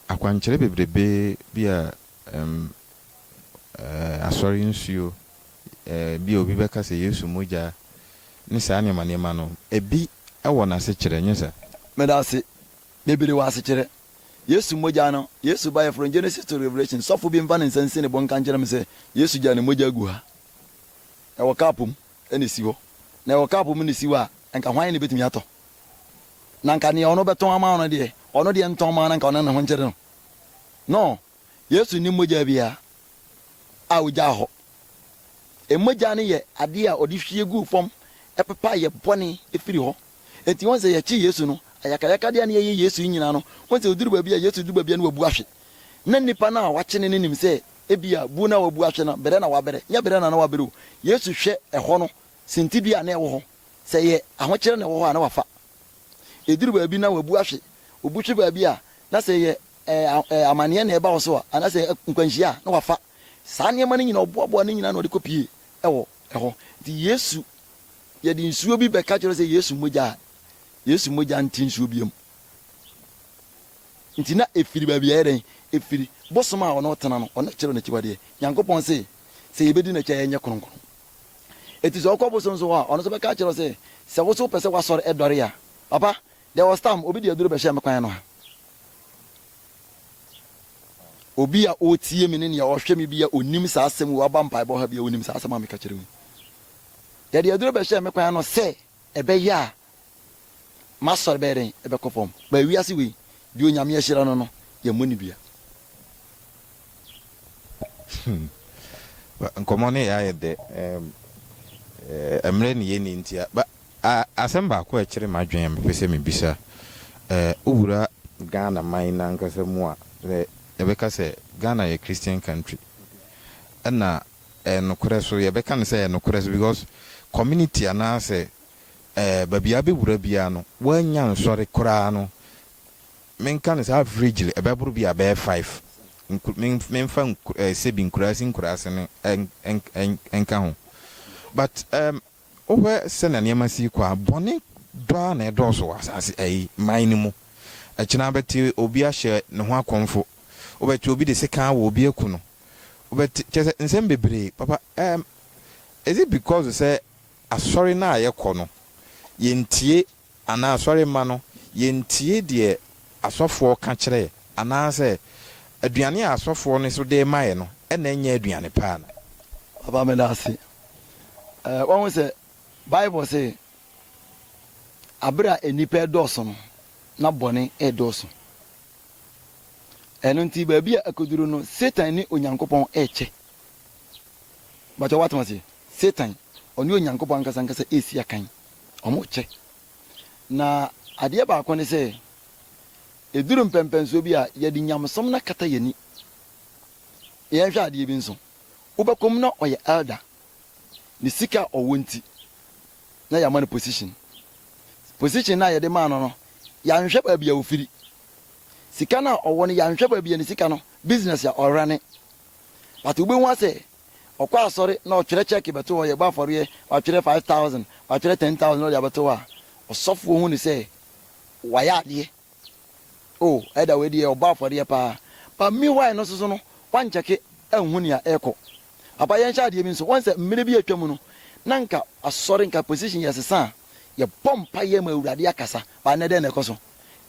Akwankyerɛ bebrebe bi a ɛm ɛɛ asɔre nsuo ɛɛ bi a obi bɛka sɛ Yesu mogya ne saa nneɛma nneɛma no, ebi wɔ n'asekyerɛ, nyɛ saa? Medase bebree wɔ asekyerɛ. Yesu mogya no, Yesu baeɛ from Genesis to Revelation, sɔfo bi mfa ne nsa nsi ne bo nka nkyerɛ me sɛ Yesu gyaa ne mogya agu ha. Ɛwɔ cup mu na ɛsi hɔ. Na ɛwɔ cup mu na ɛsi hɔ a, nka hwan na ɛbɛtumi atɔ? na anka nea ɔno bɛtɔn ama wo no deɛ, ɔno deɛ ntɔn mma wo na anka ɔne ne ho nkyere no. No, Yesu nni mogya biara a ogyaa hɔ. Mogya no yɛ adeɛ a ɔde hwie guu fam pepa yɛ bɔne firi hɔ. Enti wohu sɛ yɛkye Yesu no, ayakayakadeɛ a na yɛyɛ Yesu yi nyinaa no, wohu sɛ ɔduru baabi a Yesu duru baabi a na wabu ahwe. Na nnipa no a wɔakye no no nim sɛ ebia bu no a wabu ahwe no, brɛ na wabrɛ. Nyɛ brɛ na na wabrɛ o. Yesu hwɛ ɛhɔ no sintidua a na ɛwɔ hɔ. Sɛ ɛyɛ ahokyerɛ na ɛwɔ hɔ a, na wafa. Ɛduru baabi na wabu ahwe. Obu hwe baabi a, na sɛ ɛyɛ ɛɛ amaneɛ na ɛba wo so a, anaa sɛ nkwanhyia a, na wafa. Saa nneɛma no nyinaa, ɔboaboa ne nyinaa na ɔde kɔpie wɔ hɔ. Nti Yesu, yɛde nsuo bi bɛka kyerɛ sɛ Yesu mogya a, Yesu mogya nte nsuo biara mu. Nti na ɛfiri baabi a ɛyɛ dɛn? Ɛfiri bosom a ɔno ɔtena no, ɔno kyerɛ n'akyiwadeɛ. Nyankopɔn se, sɛ yɛbɛdi n'akyi a yɛnyɛ kronkron. Enti sɛ ɔkɔ bosom so hɔ a, ɔno nso bɛka akyerɛ wo sɛ, Sɛ wo nso wopɛ sɛ w'asɔre ɛdɔre a, papa, there was time obi de aduro bɛhyɛɛ me kwan ano ha. Obi a ɔretie me ne nea ɔhwɛ me bi a ɔnim saa asɛm wei, waba mpaebɔ ha bi a ɔnim saa asɛm a meka kyerɛ wo yi. Yɛde aduro bɛhyɛɛ me kwan ano sɛ Ɛbɛyɛ a m'asɔre bɛyɛ dɛn? Ɛbɛkɔ fam. But wiase wei, deɛ Onyame ahyira no no, yɛmmɔ no dua. Hmm. Nkɔmmɔ no yɛ ayɛ dɛ. Um, eh, mmerɛ ne yɛni nti a. Ba, a, asɛm baako a ɛkyere m'adwene a mepɛ sɛ mebisa. Eh, wowura Ghana man no ankasa mu a, sɛ yɛbɛka sɛ Ghana yɛ Christian country, ɛna Ɛyɛ nokorɛ so yɛbɛka no sɛ ɛyɛ nokorɛ so because community anaa sɛ ɛɛ baabi a wobɛwura biara no woannya nsɔre koraa no menka no sɛ averagely ɛbɛboro bi a ɛbɛyɛ five nku me menfa nku ɛɛ sɛbi nkuraase nkuraase no ɛn ɛn ɛn ɛnka ho but ɛɛm wohwɛ sɛnea nneɛma si rekɔ a bɔne dɔ ara na ɛdɔɔso wɔ asaase ɛyi man no mu ɛkyena wobɛte obi ahyɛ ne ho akɔmfo wobɛte obi de sekan awɔ obi aku no Wobɛte, kyerɛ sɛ, nsɛm bebree, papa. Um, is it because sɛ asɔre no a yɛkɔ no, yɛntie, anaa asɔre mma no, yɛntie deɛ asɔfoɔ ka kyerɛ yɛ, anaasɛ aduane a asɔfoɔ no nso de rema yɛ no na ɛnyɛ aduane pa ana? Papa, meda ase. Eh, wahu sɛ Bible se, Abere a nnipa redɔɔso no, na bɔne redɔɔso. Ɛno nti, baabi a akoduru no, Satan ne Onyankopɔn rekyɛ. Mpakyɛ woatem aseɛ? Satan, ɔne Onyankopɔn ankasa ankasa resi akan. Wɔrekyɛ. Na adeɛ baako ne sɛ, ɛduru mpɛmpɛnsoɔ bi a, yɛde nyamesom no akata yɛn ani. Yɛnhwɛ adeɛ bi nso. Wobɛkɔ mu na ɔyɛ elder. Ne sika a ɔwɔ nti, na yɛama no position. Position no a yɛde maa no no, yɛanhwɛ baabi a ɔfiri. sika no a ɔwɔ no yɛanhwɛ baabi a ne sika no business a ɔrane but wobɛhu asɛ ɔkɔ asɔre na ɔtwerɛ check bɛto hɔ yɛbɔ afɔreɛ watwerɛ 5000 watwerɛ 10000 na ɔde abɛto hɔ a ɔsɔfoɔ hu ne sɛ wayɛ adeɛ o ɛda wei deɛ ɔbɔ afɔreɛ paa but meanwhile no soso no wankyɛke anhu nea ɛkɔ apa yɛnhyɛ adeɛ bi nso wɔn sɛ mmerɛ bi atwa mu no na nka asɔre nka position yɛsesa a yɛbɔ mpa yɛ ma awurade akasa ba nnɛ dɛn na ɛkɔ so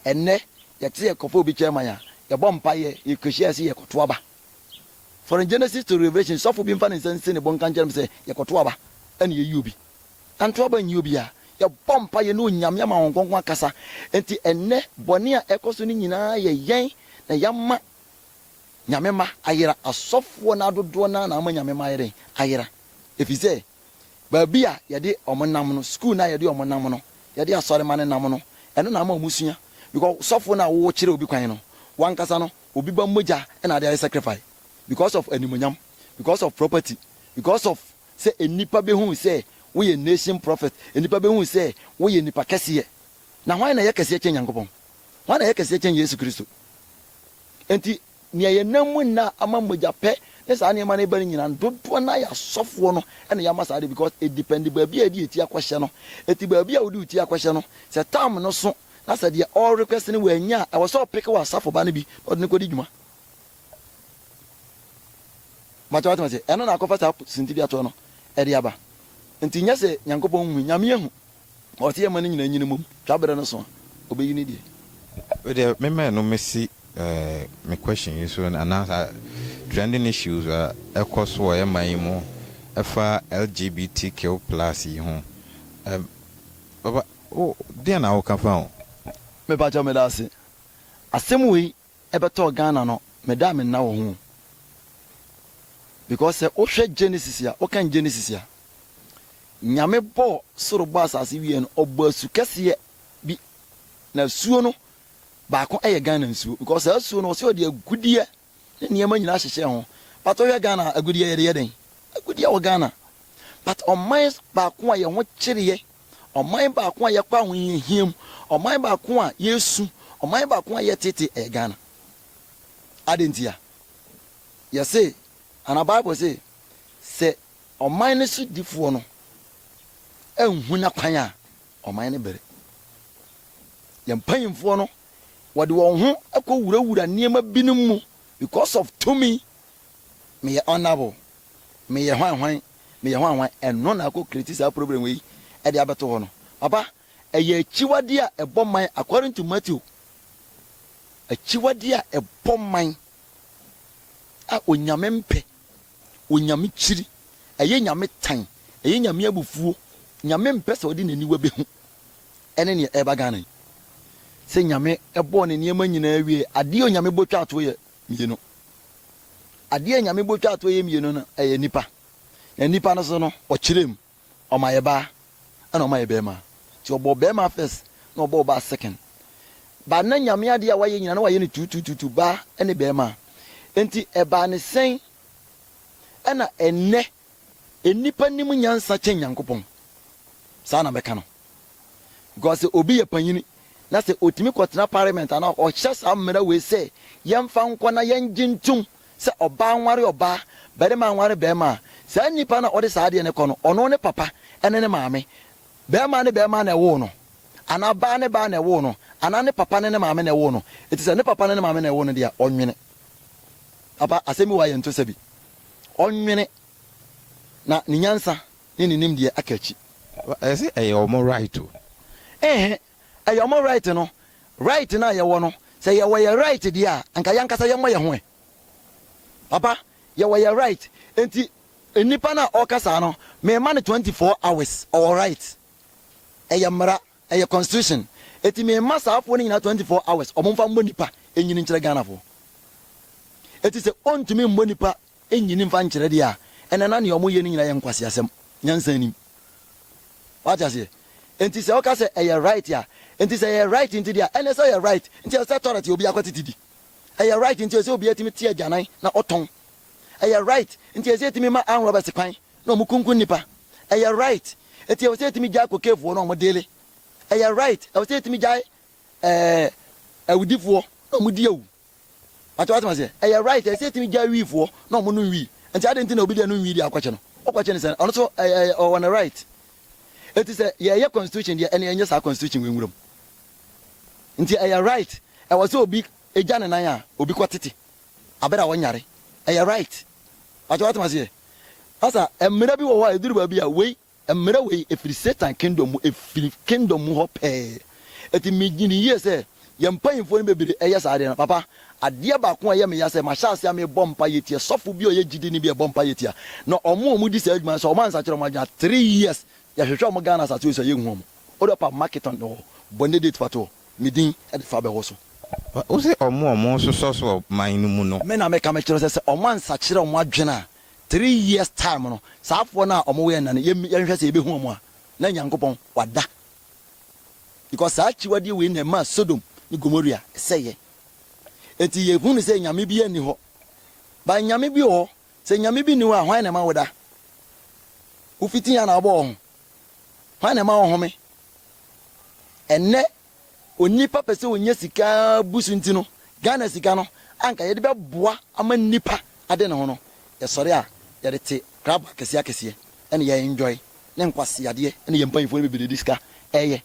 Ɛnnɛ, yɛte yɛ kɔfa obi chairman a, yɛbɔ mpaeɛ, yɛkɔhyia yɛse yɛkɔto aba. From Genesis to Revelation, sɔfo bi mfa ne nsa nsi ne bo nka nkyerɛ me sɛ yɛkɔto aba ɛna yɛyi obi. Yɛanto aba anyi obiara. Yɛbɔ mpaeɛ, yɛne Onyame ama Honhom Kronkron akasa. Enti ɛnnɛ, bɔne a ɛkɔ so no nyinaa yɛ yɛn na yɛama Nyame mma ayera. Asɔfoɔ no ara dodoɔ no ara na ama Nyame mma ayɛ dɛn? Ayera. Ɛfiri sɛ, baabi a yɛde wɔn nam no, sukuu no a yɛde wɔn nam no, yɛde asɔremma no nam no, ɛno na ama wɔsua. Because sɔfo no a wokyerɛ obi kwan no, wankasa no, obi ba mogya na ade ayɛ sacrifice because of animuonyam, because of property, because of sɛ nnipa behu sɛ woyɛ nation prophet, nnipa behu sɛ woyɛ nipa kɛseɛ. Na hwan na ɛyɛ kɛseɛ kyɛn Nyankopɔn? Hwan na ɛyɛ kɛseɛ kyɛn Yesu Kristo? Enti Nea yɛn nam mu nna ama mogyapɛ ne saa nneɛma no reba no nyinaa no, dodoɔ no ara yɛ asɔfoɔ no na yɛama saa adeɛ because it depend baabi a yɛde yɛn ti akɔhyɛ no. Enti baabi a wode wo ti akɔhyɛ no, sɛ term no so na sɛ deɛ ɔre request no wannya a, ɛwɔ sɛ ɔpeke w'asafo ba no bi na ɔde no kɔdi dwuma. Mpakyɛ watema se ɛno na akɔfa saa sintibea toɔ no ɛde aba. Nti nyɛ se Nyankopɔn nhu, Nyame ahu. Ma ɔte yɛn mma no nyinaa nyin mmom, twa bere no so a, obeyi ne deɛ. Wei deɛ me mɛn no mesi me question yi so anaa saa trending issues a ɛkɔ so wɔ yɛ man yi mu ɛfa LGBTQ plus yi ho ɛm papa wo deɛn na woka fa ho? Mepa kyɛw meda ase. Asɛm wei ɛbɛtɔɔ Ghana no me da a me nna wɔ ho o because sɛ wo hwɛ Genesis a wo kan Genesis a Nyame bɔɔ soro bɔɔ asase wie no ɔbɔ asu kɛseɛ bi na asuo no baako ɛyɛ Ghana nsuo because saa asuo no ɔsɛ ɔde agudeɛ ne nneɛma nyinaa hyehyɛ ho but wohwɛ Ghana agudeɛ yɛde yɛ dɛn agudeɛ wɔ Ghana but ɔman baako a yɛ ho kyereɛ Ɔman baako a yɛkɔ ahohiahia mu, ɔman baako a yɛresu, ɔman baako a yɛtete, ɛyɛ Ghana. Adɛn ntia? Yɛse, anaa Bible se, sɛ ɔman no sodifoɔ no anhu n'akwan a, ɔman no bere. Yɛn mpanyimfoɔ no, wɔde wɔn ho kɔwurawura nneɛma binom mu because of tumi meyɛ honourable, meyɛ hwan hwan, meyɛ hwan hwan, ɛno na akɔ create saa problem wei de abɛto hɔ no. Papa, ɛyɛ akyiwadeɛ a ɛbɔ man according to Matthew. Akyiwadeɛ a ɛbɔ man a Onyame mpɛ, Onyame kyiri, ɛyɛ Nyame tan, ɛyɛ Nyame abufuo, Nyame mpɛ sɛ ɔde n'aniwa bɛhu, ɛne neɛ ɛreba Ghana yi. Sɛ Nyame bɔɔ ne nneɛma nyinaa wieɛ, adeɛ a Onyame bɔ twaa toɔ yɛ mmienu. Adeɛ a Nyame bɔ twaa toɔ yɛ mmienu no, ɛyɛ nnipa. Na nnipa no so no, ɔkyerɛ mu. Ɔma yɛ baa, ɛna ɔma yɛ bɛɛma. Nti ɔbɔɔ bɛɛma first, ɛna ɔbɔɔ baa second. But na Nyame adeɛ a wayɛ nyinaa, na wayɛ no tuutuutuutu, baa ne bɛɛma. Nti ɛbaa ne sɛn ɛna ɛnnɛ Nnipa nim nyansa kyɛn Nyankopɔn. Saa na mɛka no. Because sɛ obi yɛ panyini na sɛ otumi kɔtena parliament anaa ɔhyɛ saa mmara wei sɛ yɛmfa nkɔ na yɛngye ntom sɛ ɔbaa nware ɔbaa, barima anware barima a, saa nnipa no a ɔde saa adeɛ no kɔ no, ɔno ne papa ne ne maame. Barima ne barima na ɛwoo no, anaa baa ne baa na ɛwoo no, anaa ne papa ne ne maame na ɛwoo no. Enti sɛ ne papa ne ne maame na ɛwoo no deɛ a, ɔnwene. Papa, asɛm bi wɔ ha yɛnto sɛ bi. ɔnwene, na ne nyansa ne ne nimdeɛ aka akyi. Ɛsɛ sɛ ɛyɛ wɔn right o. Ehe, ɛyɛ wɔn right no. Right no a yɛwɔ no, sɛ yɛwɔ yɛn right deɛ a, anka yɛn ankasa yɛmmɔ yɛn ho ɛ. Papa, yɛwɔ yɛn right. Enti nnipa no a ɔreka saa no, merema no twenty four hours, ɔwɔ right. Ɛyɛ mmara. Ɛyɛ constitution eti me mma saa foɔ no nyinaa twenty four hours ɔmo nfa mmɔ nipa nyini nkyerɛ Ghana foɔ eti sɛ ɔntumi mmɔ nipa nyini nfa nkyerɛ deɛ a ɛnɛ na nea ɔmo yɛ no nyinaa yɛ nkwaseasɛm nyansa nnim wate aseɛ enti sɛ ɔka sɛ ɛyɛ right a enti sɛ ɛyɛ right nti deɛ a ɛnɛ sɛ ɛyɛ right nti ɛsɛ sɛ tɔrɛt yɛ obi akɔ tete di ɛyɛ right nti ɛsɛ obi atumi te agyanan na ɔtɔn ɛyɛ right nti ɛsɛ ɛtumi ma anrɔbɛs kwan Na ɔmo kunkun nnipa. Ɛyɛ right. Enti ɛwɔ sɛ yɛtumi gyae kokeefoɔ na ɔmo deale. Ɛyɛ right. Ɛwɔ sɛ yɛtumi gyae ɛɛ awudifoɔ na ɔmo di awu. Wate w'asɛm aseɛ. Ɛyɛ right. Ɛyɛ sɛ yɛtumi gyae wiifoɔ na ɔmo nom wii. Enti adɛn nti na obi deɛ nom wii deɛ akɔkye no? Wokɔkye no sɛn? Ɔno nso ɛyɛ ɛyɛ ɔwɔ ne right. Enti sɛ yɛɛyɛ constitution deɛ ɛne ɛnyɛ saa constitution wei nwura mu. Enti ɛyɛ right. Ɛwɔ sɛ obi gya ne nan a obi kɔ tete Aber a wɔnyar, ɛyɛ right. Pakyɛw atse me ase ɛ? Asa, mbra bi wɔ hɔ a edur baabi a wei, mbra wei efir Satan kingdom mu, efir kingdom mu hɔ pɛɛ. Ntsi midwen yie sɛ, yɛn mpanyimfoɔ no bebree ɛyɛ saa adeɛ no. Papa, adeɛ baako a ɛyɛ me ya sɛ, mahyɛ aseɛ a merebɔ mpaeɛ tia sɔfo bi a ɔyɛ gyidini bi a ɛbɔ mpaeɛ tia, na wɔn a wɔdi saa adwuma no, sɛ wɔansakyera wɔn adwene a, three years, yɛhwehwɛ wɔn Ghana asase wei so a, yɛnhu wɔn. Wode ɔpa Marketon wɔ Bɔnne Date fa toɔ. Me din de fa bɛwɔ so. Wo se ɔmo a ɔmo sosɔ so wɔ man no mu no. Me na meka mekyerɛ wo sɛ, sɛ ɔmo ansakyera ɔmo adwene a, three years time no, saa afoɔ no a ɔmo wɔ yɛn nna no, yɛn, yɛnhwɛ sɛ yɛbɛhu ɔmo a, na Nyankopɔn wada. Because saa akyiwadeɛ wei na ɛmaa Sodom ne Gomoria sɛeɛ. Enti yɛhu no sɛ Nyame biaa nni hɔ. But Nyame bi wɔ hɔ. Sɛ Nyame bi nni hɔ a, hwan na ɛma woda? Wo fitiiɛ na wabɔ wɔ ho. Hwan na ɛma ɔhome? Ɛnnɛ onipa pɛ sɛ onya sika bu so nti no, Ghana sika no a anka yɛde bɛboa ama nnipa ade ne ho no, yɛsɔre a yɛde te krabo akɛseɛ akɛseɛ na yɛ enjoy ne nkwaseadeɛ na yɛn mpanyinfoɔ no bebree de sika ɛyɛ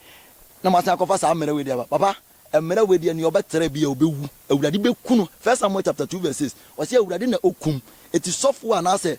na moasan akɔfa saa mmerɛ wei de aba. Papa, mmerɛ wei deɛ nea ɔbɛtra biara ɔbɛwu. Awurade bɛku no. First Samuel chapter two verse six, ɔse Awurade na ɔkum. Eti sɔfoɔ anaasɛ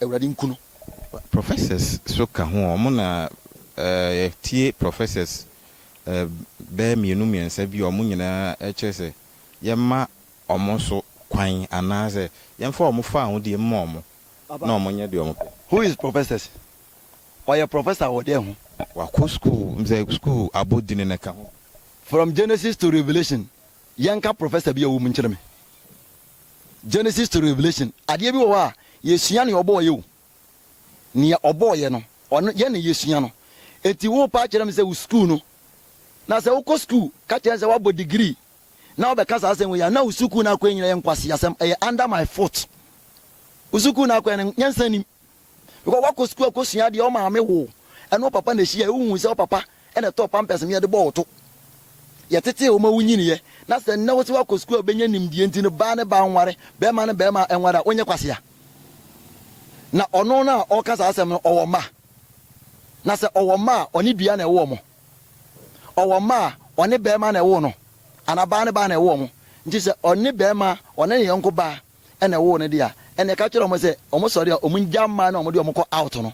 Awurade nku no. Professors so ka ho ɔ mo na eh yɛ tie professors eh bɛyɛ mmienu mmiɛnsa bi ɔ mo nyinaa eh kyerɛ sɛ yɛ ma ɔ mo so kwan anaa sɛ yɛn fa ɔ mo fa aho die mma ɔ mo na ɔ mo nyɛ deɛ ɔ mo pɛ. Who is professors? Ɔyɛ professor wɔ dɛn ho? Wakɔ school msɛ school abɔ dini no ka ho bi? From Genesis to Revelation yɛnka professor bi a ɔwɔ mu nkyerɛ me. Genesis to Revelation, adeɛ bi wɔ hɔ a, yɛsua nea ɔbɔɔ yɛ o. Nea ɔbɔɔ yɛ no, ɔno yɛ na yɛsua no. Enti wo paa kyerɛ me sɛ wo sukuu no, na sɛ wokɔ sukuu ka kyerɛ sɛ woabɔ degree na wobɛka saa asɛm wei a, na wo sukuu no akɔɛ nyina yɛ nkwaseasɛm, ɛyɛ under my foot. Wo sukuu no akɔɛ no, nyansa nnim. Because wakɔ sukuu akɔsua adeɛ, wo maame woo wo, ɛne wo papa na ɛhyiaeɛ, wohuu sɛ wo papa na ɛtɔɔ pampers ma yɛde bɔɔ wo to. Yɛtetee wo ma wonyiniiɛ, na sɛ nnɛ wo sɛ woakɔ sukuu a wobɛnya nimdeɛ nti no, baa ne baa nware, barima ne barima nware a, wonyɛ kwasea? Na ɔno no a ɔreka saa asɛm no, ɔwɔ mma? Na sɛ ɔwɔ mma a, ɔne dua na ɛwoo wɔn? Ɔwɔ mma a, ɔne barima na ɛwoo no, anaa baa ne baa na ɛwoo wɔn? Nti sɛ ɔne barima, ɔne ne yɔnko baa, ɛna ɛwoo no de a, ɛneɛ ka kyerɛ wɔn sɛ wɔn sɔre a wɔn ngya mmaa no a wɔn de wɔn kɔ out no,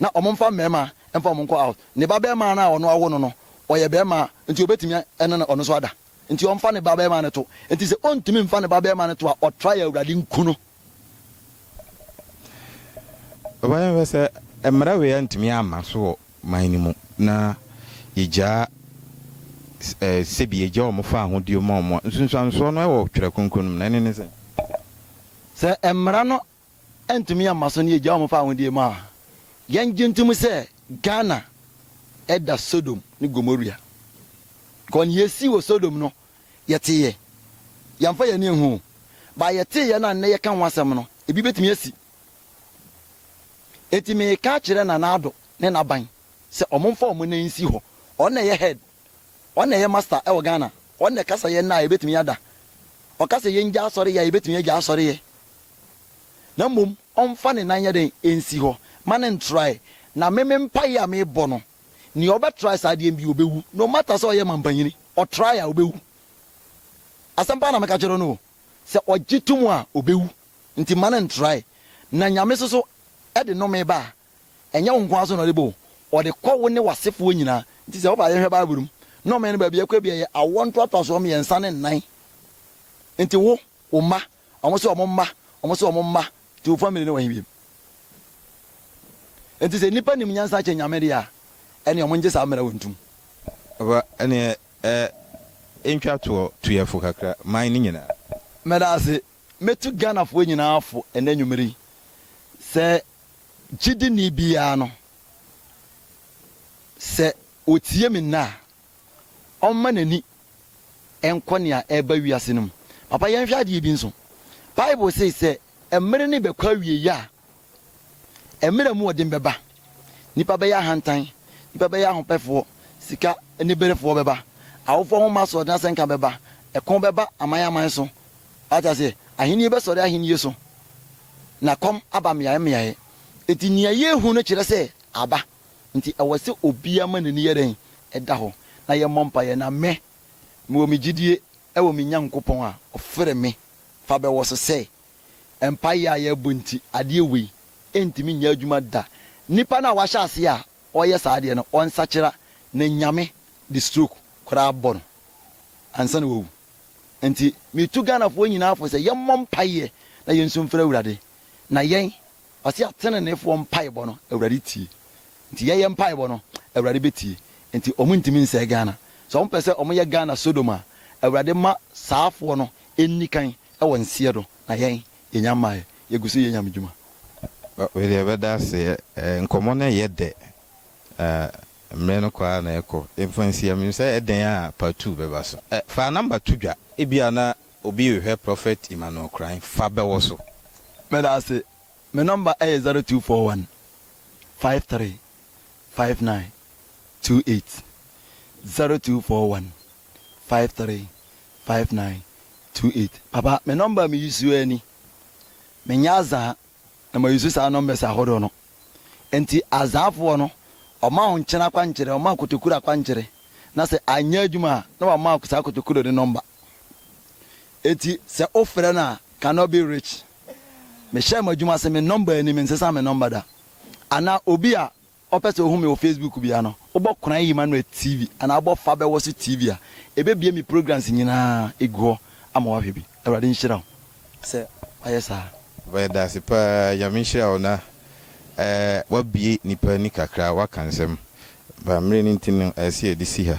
na wɔn mfa mmarima mfa wɔn nkɔ out. Ne ba barima no a ɔno awo no no, ɔyɛ barima a, nti ɔbɛtumi ɛne no ɔno nso ada. Nti ɔmfa ne ba barima no to. Nti sɛ ɔntumi mfa ne ba barima no to a, ɔtra yɛ Awurade nku no. Ɔbaa no hwɛ sɛ mmara wei antumi amma so wɔ man no mu na yegyaa ɛ, sɛbi yegyaa wɔn faa ahodeɛ mu a wɔn. Nsunsuansoɔ no wɔ Twerɛ Kronkron no mu, na ɛne ne sɛn? Sɛ mmara no antumi amma so na yegyaa wɔn faa ahodeɛ mu a, yɛngye ntom sɛ Ghana da Sodom ne Gomoria. Because nea esii wɔ Sodom no, yɛteeɛ. Yɛmfa yɛn ani nhu o, but yɛteeɛ no a nnɛ yɛka ho asɛm no, ebi betumi asi. Enti mereka akyerɛ Nana Addo ne n'aban sɛ wɔmfa wɔn nan nsi hɔ. Ɔno na ɛyɛ head, ɔno na ɛyɛ master wɔ Ghana. Ɔno na ɛkasa yɛn nna a yɛbɛtumi ada. Ɔka sɛ yɛngya asɔreyɛ a yɛbɛtumi agya asɔreyɛ. Na mmom ɔmfa ne nan nyɛ dɛn? Nsi hɔ. Ma no ntrae. Na me me mpaeɛ a mebɔ no, nea ɔbɛtrae saa deɛ bi ɔbɛwu. No matter sɛ ɔyɛ mampanyini, ɔtrae a ɔbɛwu. Asɛm pa ara na meka kyerɛ no o. Sɛ ɔgye tom a, ɔbɛwu. Nti mma no ntrae. Na Nyame so so de nnome ba a, ɛnyɛ wo nko ara so na ɔde ba o, ɔde kɔ wo ne w'asefoɔ nyinaa. Nti sɛ woba a yɛnhwɛ Bible mu, nnome no baabi a ɛkɔ bi a ɛyɛ awoɔ ntoatoasoɔ mmiɛnsa ne nnan. Nti wo, wo mma, wɔn se wɔn mma, wɔn se wɔn mma, nti wo family no wɔ he biom? Nti sɛ nnipa nim nyansa kyɛn Nyame deɛ a, ɛneɛ wɔn ngye saa mmara wei ntom. Aba, ɛneɛ ɛ, ntwa toɔ, tu yɛfo kakra, man no nyinaa. Meda ase Mɛtu Ghanafoɔ nyinaa fo ɛnnɛ anwumerɛ yi sɛ gyidini biara no, sɛ ɔtie me nnɛ a, ɔmma n'ani nkɔ nea ɛreba wiase no mu. Papa, yɛnhwɛ adeɛ bi nso. Bible se sɛ mmerɛ no rebɛkɔ awieeɛ a, Mmere a emu wɔ den bɛba. Nnipa bɛyɛ ahantan, nnipa bɛyɛ ahopɛfoɔ, sika aniberefoɔ bɛba, awofoɔ ho mma asoɔden asɛnka bɛba, ɛko bɛba aman aman so. Wate aseɛ? Ahennie bɛsɔre ahennie so, na kɔm aba mmeaeɛ mmeaeɛ. Enti nea yɛrehu no kyerɛ sɛ aba. Enti ɛwɔ sɛ obiara ma n'ani yɛ dɛn? Ɛda hɔ, na yɛmmɔ mpaeɛ. Na me, mewɔ me gyidie wɔ me Nyankopɔn a ɔfrɛ me fa bɛwɔ so sɛ mpaeɛ a yɛbɔ nti adeɛ wei ntumi nyɛ adwuma da. Nipa no a wahyɛ aseɛ a ɔyɛ saa adeɛ no ɔnsakyera ne Nyame de stroke koraa bɔ no ansa na wawu. Nti metu Ghanafoɔ nyinaa fo sɛ yɛmmɔ mpaeɛ na yɛnsu mfrɛ Awurade na yɛn Ɔse ateneneefoɔ mpaebɔ no Awurade tie nti yɛyɛ mpaebɔ no Awurade bɛtie nti ɔmo ntumi nsɛe Ghana sɛ ɔmo pɛsɛ ɔmo yɛ Ghana Sodom a Awurade ma saafoɔ no nnikan wɔ nseɛ do na yɛn yɛnya mmaeɛ yɛguso yɛ Nyame dwuma. Wedeɛ ɛbɛda ase ɛ, nkɔmmɔ no ɛyɛ dɛ na mmerɛ no kɔ ara na ɛkɔ. Yɛmfa nsi ha, menim sɛ ɛdɛn a part two bɛba so. Ɛ, fa number to dwa. Ebia na Obi rehwɛ prophet Emmanuel Kran fa bɛwɔ so. Meda ase. Me number ɛyɛ zero two four one five three five nine two eight zero two four one five three five nine two eight papa me number me use ara ni me nyɛ azaa na ma use saa numbers ahodoɔ no nti azaafoɔ no ɔma wo nkyene akwankyerɛ ɔma kotokur akwankyerɛ na sɛ anyɛ adwuma a na wama wo saa kotokur no number. Enti sɛ wofrɛ no a cannot be reached. Mehyɛɛ mo adwuma se me nɔmba ani mensesa me nɔmba da. Anaa obi a ɔpɛ sɛ ohu me wɔ Facebook bia no, wobɔ Kwan Emmanuel TV anaa wobɔ Fa Bɛwɔ So TV a, ebebue me programs nyinaa egu hɔ ama woahwɛ bi. Awurade nhyira wo sɛ woayɛ saa. Yɛdase paa Nyame nhyira wo na wabue nipa ani kakra waka nsɛm but mmere no nti no ɛsɛ yɛde si ha.